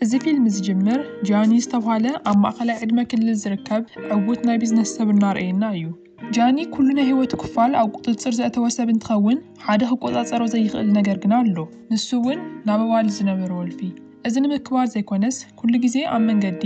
እዚ ፊልም ዝጅምር ጃኒ ዝተብሃለ ኣብ ማእኸላይ ዕድመ ክልል ዝርከብ ዕውት ናይ ቢዝነስ ሰብ እናርኣየና እዩ። ጃኒ ኩሉ ናይ ህይወቱ ክፋል ኣብ ቁፅፅር ዘእተወ ሰብ እንትኸውን ሓደ ክቆፃፀሮ ዘይኽእል ነገር ግና ኣሎ። ንሱ እውን ናብ ኣዋልድ ዝነበሮ ወልፊ። እዚ ንምክባር ዘይኮነስ ኩሉ ግዜ ኣብ መንገዲ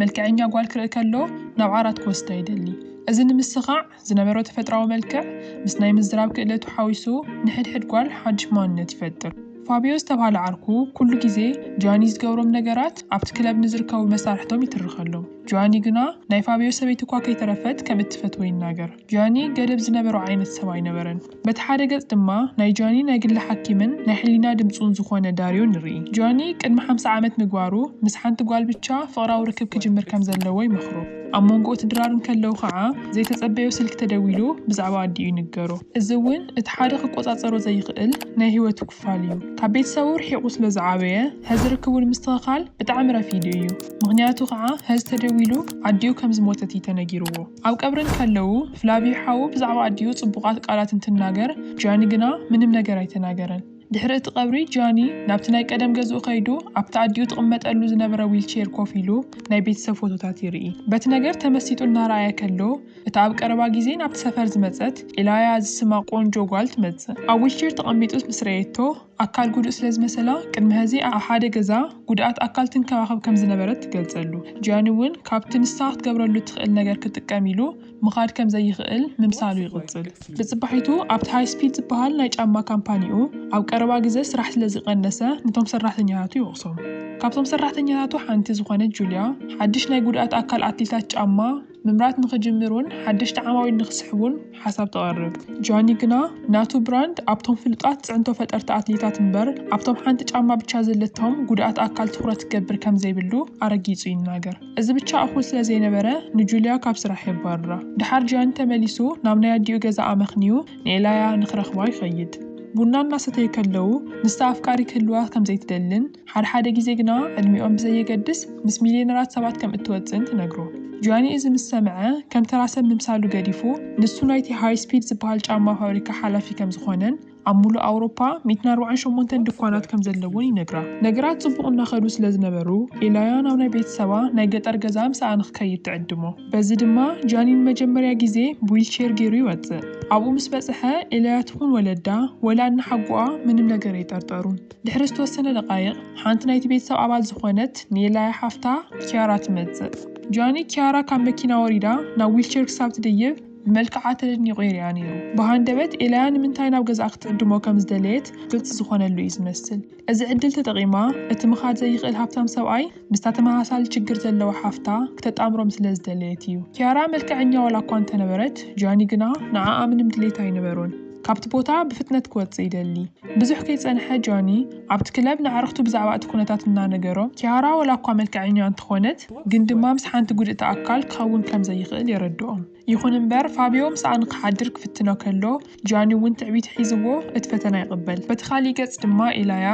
መልከዐኛ ጓል ክርኢ ከሎ ናብ ዓራት ክወስዳ ይደሊ። እዚ ንምስኻዕ። ዝነበሮ ተፈጥሮኣዊ መልክዕ ምስ ናይ ምዝራብ ክእለቱ ሓዊሱ ንሕድሕድ ጓል ሓድሽ ማንነት ይፈጥር። ፋብዮ ዝተብሃለ ዓርኩ ኩሉ ግዜ ጂያኒ ዝገብሮም ነገራት ኣብቲ ክለብ ንዝርከቡ መሳርሕቶም ይትርኸሎም። ጂያኒ ግና ናይ ፋብዮ ሰበይቲ'ኳ ከይተረፈት ከም እትፈትዎ ይናገር። ጂያኒ ገደብ ዝነበሮ ዓይነት ሰብ ኣይነበረን። በቲ ሓደ ገጽ ድማ ናይ ጃኒ ናይ ግሊ ሓኪምን ናይ ሕሊና ድምጹን ዝኾነ ዳርዮ ንርኢ። ጃኒ ቅድሚ ሓምሳ ዓመት ምግባሩ ምስ ሓንቲ ጓል ብቻ ፍቕራዊ ርክብ ክጅምር ከም ዘለዎ ይመኽሮ። ኣብ ሞንጎ እቲ ድራር እንከለዉ ከኣ ዘይተጸበዮ ስልኪ ተደዊሉ ብዛዕባ ኣዲኡ ይንገሮ። እዚ እውን እቲ ሓደ ክቆጻጸሮ ዘይኽእል ናይ ህይወቱ ክፋል እዩ። ካብ ቤተሰቡ ርሒቑ ስለ ዝዓበየ ሀዚ ርክቡ ንምስትኸኻል ብጣዕሚ ረፊዱ እዩ። ምኽንያቱ ከኣ ሀዚ ተደዊሉ ኣዲኡ ከም ዝሞተት እዩ ተነጊርዎ። ኣብ ቀብሪ እንከለዉ ፍላቪ ሓዉ ብዛዕባ ኣዲኡ ጽቡቓት ቃላት እንትናገር ጃኒ ግና ምንም ነገር ኣይተናገረን። ድሕሪ እቲ ቀብሪ ጃኒ ናብቲ ናይ ቀደም ገዝኡ ከይዱ ኣብቲ ኣዲኡ ትቕመጠሉ ዝነበረ ዊልቼር ኮፍ ኢሉ ናይ ቤተሰብ ፎቶታት ይርኢ። በቲ ነገር ተመሲጡ እናረኣየ ከሎ እታ ኣብ ቀረባ ግዜ ናብቲ ሰፈር ዝመጸት ኢላያ ዝስማ ቆንጆ ጓል ትመጽእ። ኣብ ዊልቼር ተቐሚጡ ምስ ረኣየቶ ኣካል ጉዱእ ስለ ዝመሰላ፣ ቅድሚ ሀዚ ኣብ ሓደ ገዛ ጉድኣት ኣካል ትንከባኸብ ከም ዝነበረት ትገልጸሉ። ጂያኒ እውን ካብቲ ንሳ ክትገብረሉ እትኽእል ነገር ክጥቀም ኢሉ ምኻድ ከም ዘይኽእል ምምሳሉ ይቕጽል። ብጽባሒቱ ኣብቲ ሃይስፒድ ዝበሃል ናይ ጫማ ካምፓኒኡ ኣብ ቀረባ ግዘ ስራሕ ስለ ዝቐነሰ ነቶም ሰራሕተኛታቱ ይወቕሶም። ካብቶም ሰራሕተኛታቱ ሓንቲ ዝኾነት ጁልያ ሓድሽ ናይ ጉድኣት ኣካል ኣትሌታት ጫማ፣ ምምራት ንኽጅምሩን ሓደሽቲ ዓማዊል ንኽስሕቡን ሓሳብ ተቕርብ። ጃኒ ግና ናቱ ብራንድ ኣብቶም ፍሉጣት ፅዕንቶ ፈጠርቲ ኣትሌታት እምበር ኣብቶም ሓንቲ ጫማ ብቻ ዘለቶም ጉዱኣት ኣካል ትኹረት ክገብር ከምዘይብሉ ኣረጊፁ ይናገር። እዚ ብቻ እኹል ስለዘይነበረ ንጁልያ ካብ ስራሕ የባርራ። ደሓር ጃኒ ተመሊሱ ናብ ናይ ኣዲኡ ገዛ ኣመኽንዩ ንኤላያ ንኽረኽባ ይኸይድ። ቡና እናሰተዩ ከለዉ ንሳ ኣፍቃሪ ክህልዋ ከምዘይትደልን፣ ሓድሓደ ግዜ ግና ዕድሚኦም ብዘየገድስ ምስ ሚልየነራት ሰባት ከም እትወጽእን ትነግሮ። ጂያኒ እዚ ምስ ሰምዐ፣ ከም ተራ ሰብ ምምሳሉ ገዲፉ፣ ንሱ ናይቲ ሃይ ስፒድ ዝበሃል ጫማ ፋብሪካ ሓላፊ ከም ዝኾነን ኣብ ምሉእ ኣውሮፓ ሚእትን ኣርባዓን ሸሞንተን ድኳናት ከም ዘለዎን ይነግራ። ነገራት ጽቡቕ እናኸዱ ስለ ዝነበሩ፣ ኤላያ ናብ ናይ ቤተሰባ ናይ ገጠር ገዛ ምስኣ ንኽከይድ ትዕድሞ። በዚ ድማ ጂያኒ ንመጀመርያ ግዜ ብዊልቼር ገይሩ ይወጽእ። ኣብኡ ምስ በጽሐ፣ ኤላያ ትኹን ወለዳ ወላ እነሓጎኣ ምንም ነገር ኣይጠርጠሩን። ድሕሪ ዝተወሰነ ደቓይቕ፣ ሓንቲ ናይቲ ቤተሰብ ኣባል ዝዀነት ኔላያ ሓፍታ ኪያራ ትመጽእ። ጃኒ፣ ኪያራ ካብ መኪና ወሪዳ ናብ ዊልቸር ክሳብ ትድይብ ብመልክዓ ተደኒቑ ይሪኣ ነይሩ። ብሃንደበት ኤላያ ንምንታይ ናብ ገዝኣ ክትዕድሞ ከም ዝደለየት ግልጺ ዝዀነሉ እዩ ዝመስል። እዚ ዕድል ተጠቒማ፣ እቲ ምኻድ ዘይክእል ሃብታም ሰብኣይ ምስታ ተመሳሳሊ ሽግር ዘለዋ ሓፍታ ክተጣምሮም ስለ ዝደለየት እዩ። ኪያራ መልክዐኛ ዋላ'ኳ እንተነበረት፣ ጃኒ ግና ንዓኣ ምንም ድሌት ኣይነበሮን። ካብቲ ቦታ ብፍጥነት ክወጽእ ይደሊ። ብዙሕ ከይጸንሐ ጆኒ ኣብቲ ክለብ ንኣዕርኽቱ ብዛዕባ እቲ ኩነታት እናነገሮም፣ ኪያራ ዋላኳ መልከዐኛ እንተኾነት ግን ድማ ምስ ሓንቲ ጉድእቲ ኣካል ክኸውን ከም ዘይኽእል የረድኦም። ይኹን እምበር ፋብዮ ምስኣ ንኽሓድር ክፍትኖ ከሎ ጆኒ እውን ትዕቢት ሒዝዎ እቲ ፈተና ይቕበል። በቲ ካልእ ገጽ ድማ ኢላያ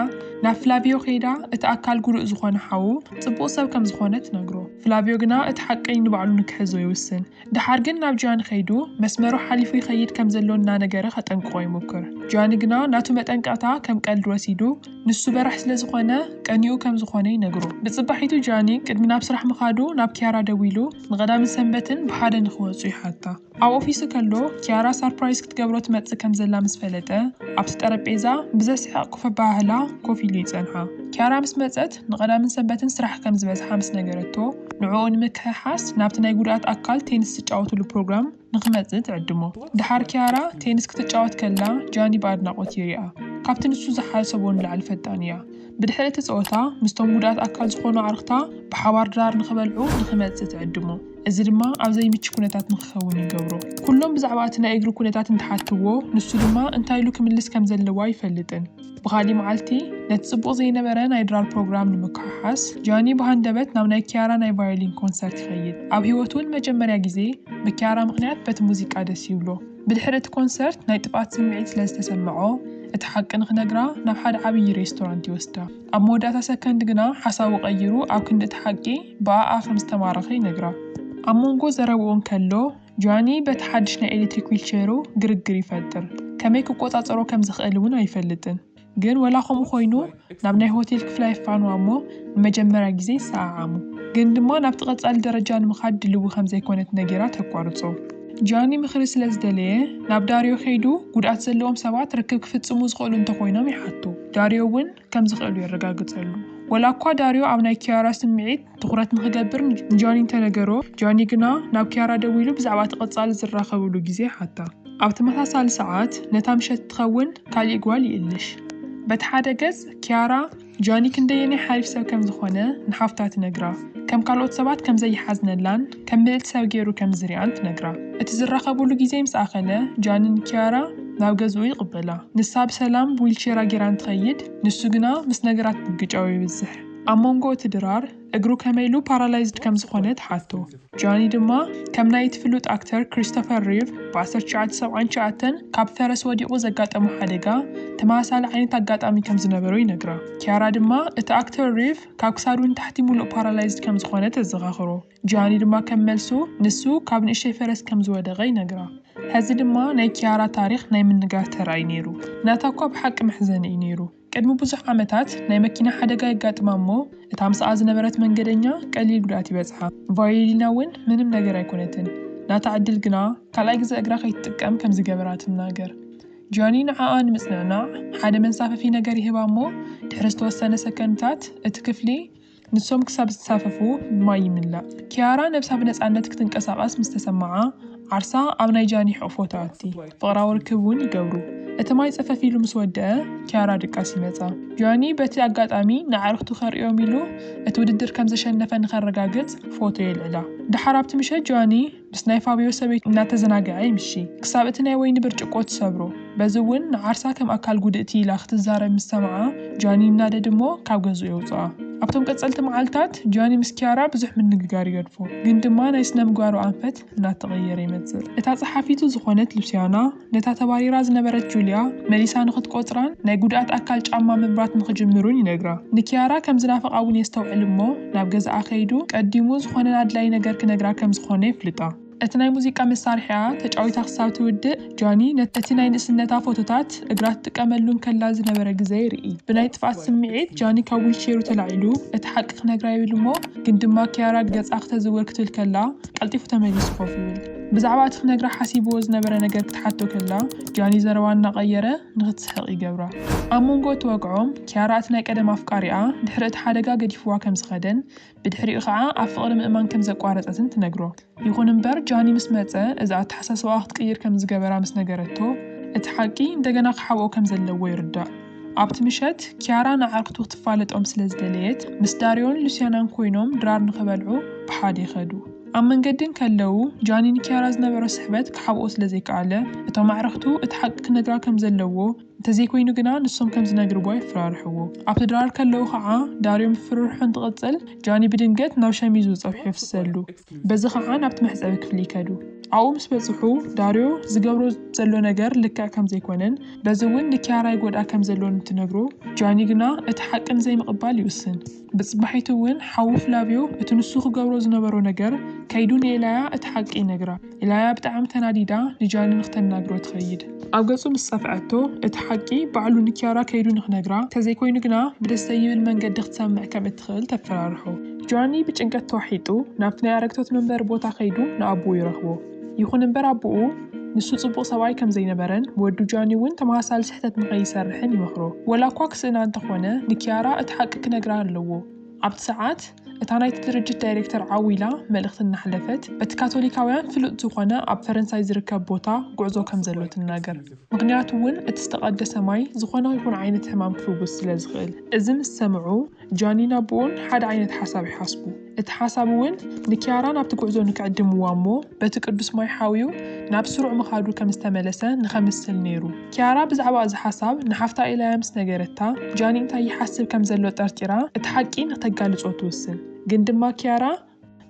ናብ ፍላቪዮ ከይዳ እቲ ኣካል ጉዱእ ዝኾነ ሓዉ ጽቡቕ ሰብ ከም ዝኾነ ትነግሮ። ፍላቪዮ ግና እቲ ሓቂ ንባዕሉ ንክሕዞ ይውስን። ደሓር ግን ናብ ጂያኒ ከይዱ መስመሩ ሓሊፉ ይኸይድ ከም ዘሎ እናነገረ ከጠንቅቖ ይሙክር። ጂያኒ ግና ናቱ መጠንቀቕታ ከም ቀልዲ ወሲዱ ንሱ በራሕ ስለ ዝኾነ ቀንይኡ ከም ዝኾነ ይነግሮ። ብጽባሒቱ ጂያኒ ቅድሚ ናብ ስራሕ ምኻዱ ናብ ኪያራ ደዊሉ ንቐዳምን ሰንበትን ብሓደ ንኽወጹ ይሓታ። ኣብ ኦፊሱ ከሎ ኪያራ ሳርፕራይዝ ክትገብሮ ትመጽእ ከም ዘላ ምስ ፈለጠ ኣብቲ ጠረጴዛ ብዘስሕቕ ኮፍ ኣበሃህላ ኮፍ ኢሉ ይጸንሓ። ኪያራ ምስ መጸት። ንቀዳምን ሰንበትን ስራሕ ከም ዝበዝሓ ምስ ነገረቶ፣ ንዕኡ ንምክሕሓስ ናብቲ ናይ ጉድኣት ኣካል ቴንስ ዝጫወትሉ ፕሮግራም ንኽመጽእ ትዕድሞ። ደሓር ኪያራ ቴንስ ክትጫወት ከላ ጃኒ ብኣድናቖት ይሪኣ። ካብቲ ንሱ ዝሓሰቦ ንላዕሊ ፈጣን እያ። ብድሕሪ እቲ ጸወታ ምስቶም ጉድኣት ኣካል ዝኾኑ ኣዕሩኽታ ብሓባር ድራር ንኽበልዑ ንኽመጽእ ትዕድሞ። እዚ ድማ ኣብ ዘይምቹ ኩነታት ንኽኸውን ይገብሮ። ኩሎም ብዛዕባ እቲ ናይ እግሪ ኩነታት እንትሓትዎ፣ ንሱ ድማ እንታይ ኢሉ ክምልስ ከም ዘለዎ ኣይፈልጥን። ብኻሊእ መዓልቲ፣ ነቲ ጽቡቕ ዘይነበረ ናይ ድራር ፕሮግራም ንምክሕሓስ፣ ጃኒ ብሃንደበት ናብ ናይ ኪያራ ናይ ቫዮሊን ኮንሰርት ይኸይድ። ኣብ ህይወቱ ንመጀመርያ ግዜ፣ ብኪያራ ምኽንያት በቲ ሙዚቃ ደስ ይብሎ። ብድሕሪ እቲ ኮንሰርት፣ ናይ ጥፍኣት ስምዒት ስለ ዝተሰምዖ፣ እቲ ሓቂ ንኽነግራ ናብ ሓደ ዓብዪ ሬስቶራንት ይወስዳ። ኣብ መወዳእታ ሰከንድ ግና ሓሳቡ ቀይሩ ኣብ ክንዲ እቲ ሓቂ፣ ብኣኣ ከም ዝተማረኸ ይነግራ። ኣብ መንጎ ዘረብኡ እንከሎ፣ ጆኒ በቲ ሓድሽ ናይ ኤሌክትሪክ ዊልቸይሩ ግርግር ይፈጥር፣ ከመይ ክቆጻጸሮ ከም ዝኽእል እውን ኣይፈልጥን። ግን ወላ ከምኡ ኮይኑ ናብ ናይ ሆቴል ክፍላ የፋንዋ እሞ ንመጀመርያ ግዜ ይሰዓዓሙ። ግን ድማ ናብቲ ቀጻሊ ደረጃ ንምኻድ ድልዊ ከም ዘይኮነት ነጊራ ተቋርጾ። ጆኒ ምኽሪ ስለ ዝደለየ ናብ ዳርዮ ከይዱ ጉድኣት ዘለዎም ሰባት ርክብ ክፍጽሙ ዝኽእሉ እንተ ኮይኖም ይሓቶ። ዳርዮ እውን። ከም ዝኽእሉ የረጋግጸሉ። ወላ እኳ ዳርዮ ኣብ ናይ ኪያራ ስምዒት ትዅረት ንኽገብር ንጆኒ እንተ ነገሮ፣ ጆኒ ግና ናብ ኪያራ ደዊሉ ብዛዕባ እቲ ቐጻሊ ዝራኸብሉ ግዜ ይሓታ። ኣብ ተመሳሳሊ ሰዓት፣ ነታ ምሸት እትኸውን ካልእ ጓል ይእልሽ። በቲ ሓደ ገጽ፣ ኪያራ ጆኒ ክንደየናይ ሓሪፍ ሰብ ከም ዝዀነ ንሓፍታ ትነግራ፣ ከም ካልኦት ሰባት ከም ዘይሓዝነላን፣ ከም ምልእቲ ሰብ ገይሩ ከም ዝሪኣን ትነግራ። እቲ ዝራኸቡሉ ግዜ ምስ ኣኸለ፣ ጃኒ ንኪያራ ናብ ገዝኡ ይቕበላ። ንሳ ብሰላም ብዊልቼራ ገይራ እንትኸይድ፣ ንሱ ግና ምስ ነገራት ምግጫው የብዝሕ። ኣብ መንጎ እቲ ድራር፣ እግሩ ከመይ ኢሉ ፓራላይዝድ ከም ዝኾነ ትሓቶ። ጃኒ ድማ ከም ናይ እቲ ፍሉጥ ኣክተር ክሪስቶፈር ሪቭ ብ ዓሰርተ ትሽዓተ ሰብዓን ትሽዓተን ካብ ፈረስ ወዲቑ ዘጋጠሞ ሓደጋ፣ ተመሳሳሊ ዓይነት ኣጋጣሚ ከም ዝነበሮ ይነግራ። ኪያራ ድማ እቲ ኣክተር ሪቭ፣ ካብ ክሳዱ ንታሕቲ ሙሉእ ፓራላይዝድ ከም ዝኾነ ተዘኻኽሮ። ጂያኒ ድማ ከም መልሱ ንሱ ካብ ንእሽተይ ፈረስ ከም ዝወደቐ ይነግራ። ሐዚ ድማ ናይ ኪያራ ታሪኽ ናይ ምንጋር ተራ'ዩ ነይሩ። ናታ እኳ ብሓቂ መሕዘኒ እዩ ነይሩ። ቅድሚ ብዙሕ ዓመታት ናይ መኪና ሓደጋ የጋጥማ እሞ እታ ምስኣ ዝነበረት መንገደኛ ቀሊል ጉድኣት ይበፅሓ። ቫዮሊና እውን ምንም ነገር ኣይኮነትን። ናታ ዕድል ግና ካልኣይ ግዘ እግራ ከይትጥቀም ከም ዝገበራ ትናገር። ጆኒ ንዓኣ ንምጽንናዕ ሓደ መንሳፈፊ ነገር ይህባ እሞ ድሕሪ ዝተወሰነ ሰከንድታት እቲ ክፍሊ ንሶም ክሳብ ዝሳፈፉ ብማይ ይምላእ። ኪያራ ነብሳ ብነጻነት ክትንቀሳቐስ ምስ ተሰምዓ ዓርሳ ኣብ ናይ ጃኒ ሕቕፎ ትኣቲ። ፍቕራዊ ርክብ እውን ይገብሩ። እቲ ማይ ጸፈፍ ኢሉ ምስ ወድኣ ኪያራ ድቃስ ይመጻ። ጆኒ በቲ ኣጋጣሚ ንኣዕርኽቱ ከርእዮም ኢሉ እቲ ውድድር ከም ዘሸነፈ ንኸረጋግጽ ፎቶ የልዕላ። ደሓር ኣብቲ ምሸት ጆኒ። ምስ ናይ ፋብዮ ሰበይቱ እናተዘናገዐ ይምሺ ክሳብ እቲ ናይ ወይኒ ብርጭቆ ትሰብሮ። በዚ እውን ንዓርሳ ከም ኣካል ጉድእቲ ኢላ ክትዛረብ ምስ ሰምዓ ጃኒ ይናደድ እሞ ካብ ገዝኡ የውፅኣ። ኣብቶም ቀፀልቲ መዓልታት ጃኒ ምስ ኪያራ ብዙሕ ምንግጋር ይገድፎ ግን ድማ ናይ ስነምግባሩ ኣንፈት እናተቐየረ ይመፅእ። እታ ፀሓፊቱ ዝኾነት ሉሲያና፣ ነታ ተባሪራ ዝነበረት ጁልያ መሊሳ ንኽትቈጽራን ናይ ጕድኣት ኣካል ጫማ ምምራት ንኽጅምሩን ይነግራ። ንኪያራ ከም ዝናፍቓ እውን የስተውዕል እሞ፣ ናብ ገዛኣ ከይዱ ቀዲሙ ዝዀነ ኣድላዪ ነገር ክነግራ ከም ዝዀነ የፍልጣ። እቲ ናይ ሙዚቃ መሳርሒኣ ተጫዊታ ክሳብ ትውድእ፣ ጃኒ ነቲ ናይ ንእስነታ ፎቶታት እግራ ትጥቀመሉ እንከላ ዝነበረ ግዜ ይርኢ። ብናይ ጥፍኣት ስምዒት ጃኒ ካብ ዊልቼሩ ተላዒሉ እቲ ሓቂ ክነግራ ይብል እሞ፣ ግን ድማ ኪያራ ገጻ ክተዝውር ክትብል ከላ ቀልጢፉ ተመሊሱ ኮፍ ይብል። ብዛዕባ እቲ ክነግራ ሓሲብዎ ዝነበረ ነገር ክትሓቶ ከላ፣ ጃኒ ዘረባ እናቐየረ ንኽትስሕቕ ይገብራ። ኣብ መንጎ እቲ ወግዖም፣ ኪያራ እቲ ናይ ቀደም ኣፍቃሪኣ ድሕሪ እቲ ሓደጋ ገዲፍዋ ከም ዝኸደን ብድሕሪኡ ኸኣ ኣብ ፍቕሪ ምእማን ከም ዘቋረጸትን ትነግሮ። ይኹን እምበር፣ ጃኒ ምስ መጸ እዚ ኣተሓሳስባኣ ክትቅይር ከም ዝገበራ ምስ ነገረቶ፣ እቲ ሓቂ እንደገና ክሓብኦ ከም ዘለዎ ይርዳእ። ኣብቲ ምሸት፣ ኪያራ ንኣዕርኽቱ ክትፋለጦም ስለ ዝደለየት፣ ምስ ዳርዮን ሉስያናን ኰይኖም ድራር ንኽበልዑ ብሓደ ይኸዱ። ኣብ መንገዲ እንከለዉ፣ ጃኒ ንኪያራ ዝነበሮ ስሕበት ክሓብኦ ስለ ዘይከኣለ፣ እቶም ኣዕርኽቱ እቲ ሓቂ ክነግራ ከም ዘለዎ፣ እንተ ዘይኰይኑ ግና ንሶም ከም ዝነግርዎ የፈራርሕዎ። ኣብቲ ድራር ከለዉ ኸኣ፣ ዳርዮ ምፍርርሑ እንትቕጽል፣ ጃኒ ብድንገት ናብ ሸሚዙ ጸብሒ የፍስሰሉ። በዚ ኸኣ ናብቲ መሕጸቢ ክፍሊ ይከዱ። ኣብኡ ምስ በጽሑ፣ ዳርዮ ዝገብሮ ዘሎ ነገር ልክዕ ከም ዘይኰነን በዚ እውን ንኪያራ ይጐድኣ ከም ዘሎን እንትነግሮ፣ ጃኒ ግና እቲ ሓቂ ንዘይምቕባል ይውስን። ብጽባሒቱ እውን ሓዉ ፍላቪዮ እቲ ንሱ ክገብሮ ዝነበሮ ነገር ከይዱ ንኤላያ እቲ ሓቂ ይነግራ። ኤላያ ብጣዕሚ ተናዲዳ ንጃኒ ንክተናግሮ ትኸይድ። ኣብ ገጹ ምስ ጸፍዐቶ እቲ ሓቂ ባዕሉ ንኪያራ ከይዱ ንክነግራ ተዘይኮይኑ ግና ብደስ ዘይብል መንገዲ ክትሰምዕ ከም እትኽእል ተፈራርሖ። ጃኒ ብጭንቀት ተዋሒጡ ናብቲ ናይ ኣረግቶት መንበሪ ቦታ ከይዱ ንኣቡኡ ይረኽቦ። ይኹን እምበር ኣቦኡ ንሱ ጽቡቕ ሰብኣይ ከም ዘይነበረን ወዱ ጃኒ እውን ተመሳሳሊ ስሕተት ንኸይሰርሕን ይመኽሮ። ወላኳ ክስእና እንተኾነ ንኪያራ እቲ ሓቂ ክነግራ ኣለዎ። ኣብቲ ሰዓት እታ ናይቲ ድርጅት ዳይሬክተር ዓው ኢላ መልእኽቲ እናሕለፈት በቲ ካቶሊካውያን ፍሉጥ ዝኾነ ኣብ ፈረንሳይ ዝርከብ ቦታ ጉዕዞ ከም ዘሎ ትናገር። ምኽንያቱ እውን እቲ ዝተቐደሰ ማይ ዝኾነ ይኹን ዓይነት ሕማም ክፍውስ ስለ ዝኽእል። እዚ ምስ ሰምዑ ጃኒን ኣቦኡን ሓደ ዓይነት ሓሳብ ይሓስቡ። እቲ ሓሳብ እውን ንኪያራ ናብቲ ጉዕዞ ንክዕድምዋ እሞ በቲ ቅዱስ ማይ ሓውዩ ናብ ስሩዕ ምኻዱ ከም ዝተመለሰ ንኸምስል ነይሩ። ኪያራ ብዛዕባ እዚ ሓሳብ ንሓፍታ ኢላያ ምስ ነገረታ፣ ጃኒ እንታይ ይሓስብ ከም ዘሎ ጠርጢራ እቲ ሓቂ ንክተጋልጾ ትውስን። ግን ድማ ኪያራ፣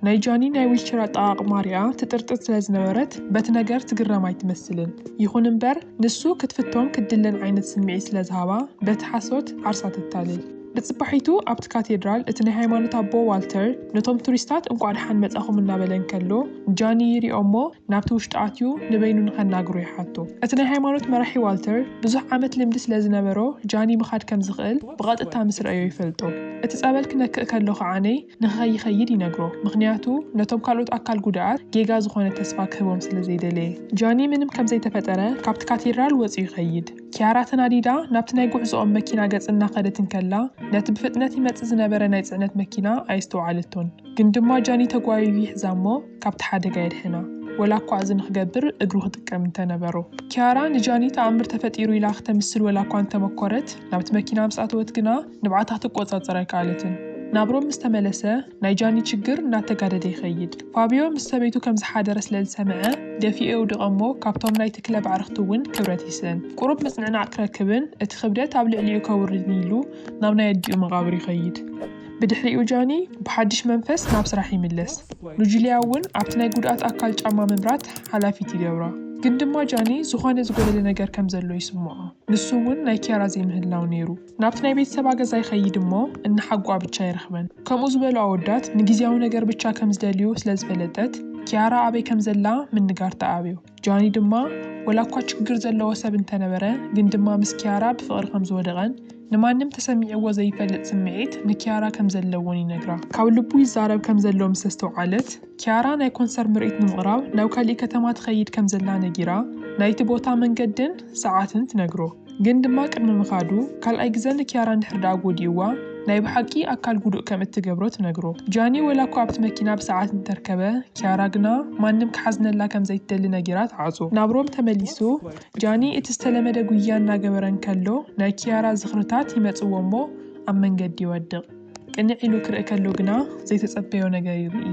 ናይ ጃኒ ናይ ዊልቸር ኣጠቓቕማ ሪኣ ትጥርጥር ስለ ዝነበረት በቲ ነገር ትግረም ኣይትመስልን። ይኹን እምበር ንሱ ክትፍቶን ክትድለን ዓይነት ስምዒት ስለ ዝሃባ በቲ ሓሶት ዓርሳ ተታልል። ብጽባሒቱ ኣብቲ ካቴድራል እቲ ናይ ሃይማኖት ኣቦ ዋልተር ነቶም ቱሪስታት እንቋዕ ደሓን መጻኹም እናበለ እንከሎ ጃኒ ይሪኦ'ሞ ናብቲ ውሽጢ ኣትዩ ንበይኑ ንኸናግሮ ይሓቶ። እቲ ናይ ሃይማኖት መራሒ ዋልተር ብዙሕ ዓመት ልምዲ ስለ ዝነበሮ ጃኒ ምኻድ ከም ዝኽእል ብቐጥታ ምስ ረኣዮ ይፈልጦ። እቲ ጸበል ክነክእ ከሎ ከዓኔ ንኸይኸይድ ይነግሮ ምኽንያቱ ነቶም ካልኦት ኣካል ጉዳኣት ጌጋ ዝኾነ ተስፋ ክህቦም ስለ ዘይደለየ። ጃኒ ምንም ከም ዘይተፈጠረ ካብቲ ካቴድራል ወጺኡ ይኸይድ። ኪያራ ተናዲዳ ናብቲ ናይ ጉዕዞኦም መኪና ገጽ እናኸደት እንከላ ነቲ ብፍጥነት ይመጽእ ዝነበረ ናይ ጽዕነት መኪና ኣየስተውዓለቶን። ግን ድማ ጃኒ ተጓይዩ ይሕዛ እሞ ካብቲ ሓደጋ የድሕና። ወላ እኳ እዚ ንኽገብር እግሩ ክጥቀም እንተ ነበሮ። ኪያራ ንጃኒ ተኣምር ተፈጢሩ ኢላ ክተምስል ወላ እኳ እንተ መኰረት ናብቲ መኪና ምስ ኣተወት ግና፣ ንብዓታ ክትቆጻጸር ኣይከኣለትን። ናብ ሮም ምስ ተመለሰ፣ ናይ ጃኒ ችግር እናተጋደደ ይኸይድ። ፋብዮ ምስ ሰበይቱ ከም ዝሓደረ ስለ ዝሰምዐ፣ ደፊኡ የውድቓ'ሞ ካብቶም ናይቲ ክለብ ኣዕርኽቲ'ውን ክብረት ይስእን። ቁሩብ ምጽንዕናዕ ክረክብን እቲ ክብደት ኣብ ልዕሊኡ ከውርድን ኢሉ ናብ ናይ ኣዲኡ መቓብር ይኸይድ። ብድሕሪኡ ጃኒ ብሓድሽ መንፈስ ናብ ስራሕ ይምለስ። ንጁልያ'ውን ኣብቲ ናይ ጉድኣት ኣካል ጫማ ምምራት ሓላፊት ይገብራ። ግን ድማ ጃኒ ዝኾነ ዝጎደለ ነገር ከም ዘሎ ይስምዖ። ንሱ'ውን ናይ ኪያራ ዘይምህላው ነይሩ። ናብቲ ናይ ቤተሰባ ገዛ ይኸይድ እሞ እንሓጉኣ ብቻ ኣይረኽበን። ከምኡ ዝበሉ ኣወዳት ንጊዚያዊ ነገር ብቻ ከም ዝደልዩ ስለ ዝፈለጠት ኪያራ ኣበይ ከም ዘላ ምንጋር ተኣብዮ። ጃኒ ድማ ወላ እኳ ችግር ዘለዎ ሰብ እንተነበረ ግን ድማ ምስ ኪያራ ብፍቕሪ ከም ዝወደቐን ንማንም ተሰሚዕዎ ዘይፈልጥ ስምዒት ንኪያራ ከም ዘለዎን ይነግራ። ካብ ልቡ ይዛረብ ከም ዘሎ ምስ ኣስተውዓለት። ኪያራ ናይ ኮንሰር ምርኢት ንምቕራብ ናብ ካሊእ ከተማ ትኸይድ ከም ዘላ ነጊራ ናይቲ ቦታ መንገድን ሰዓትን ትነግሮ። ግን ድማ ቅድሚ ምኻዱ ካልኣይ ግዘ ንኪያራ እንድሕር ደኣ ጎዲእዋ ናይ ብሓቂ ኣካል ጉዱእ ከም እትገብሮ ትነግሮ። ጃኒ ወላ እኳ ኣብቲ መኪና ብሰዓት እንተርከበ ኪያራ ግና ማንም ክሓዝነላ ከም ዘይትደሊ ነጊራ ትዓጹ። ናብ ሮም ተመሊሱ ጃኒ እቲ ዝተለመደ ጉያ እናገበረ እንከሎ ናይ ኪያራ ዝኽርታት ይመጽዎ እሞ ኣብ መንገዲ ይወድቕ። ቅንዕ ኢሉ ክርኢ ከሎ ግና ዘይተጸበዮ ነገር ይርኢ።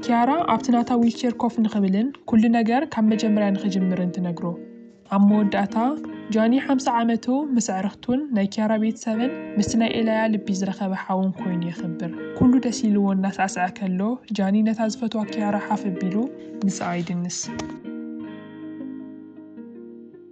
ኪያራ ኣብቲ ናታ ዊልቸር ኮፍ ንኽብልን ኩሉ ነገር ካብ መጀመርያ ንኽጅምርን ትነግሮ። ኣብ መወዳእታ፣ ጃኒ ሓምሳ ዓመቱ ምስ ኣዕርኽቱን ናይ ኪያራ ቤተሰብን ምስቲ ናይ ኤላያ ልቢ ዝረኸበ ሓውን ኮይኑ የኽብር። ኩሉ ደስ ኢልዎ እናሳዕስዐ ከሎ፣ ጃኒ ነታ ዝፈትዋ ኪያራ ሓፍ ኣቢሉ ምስኣ ይድንስ።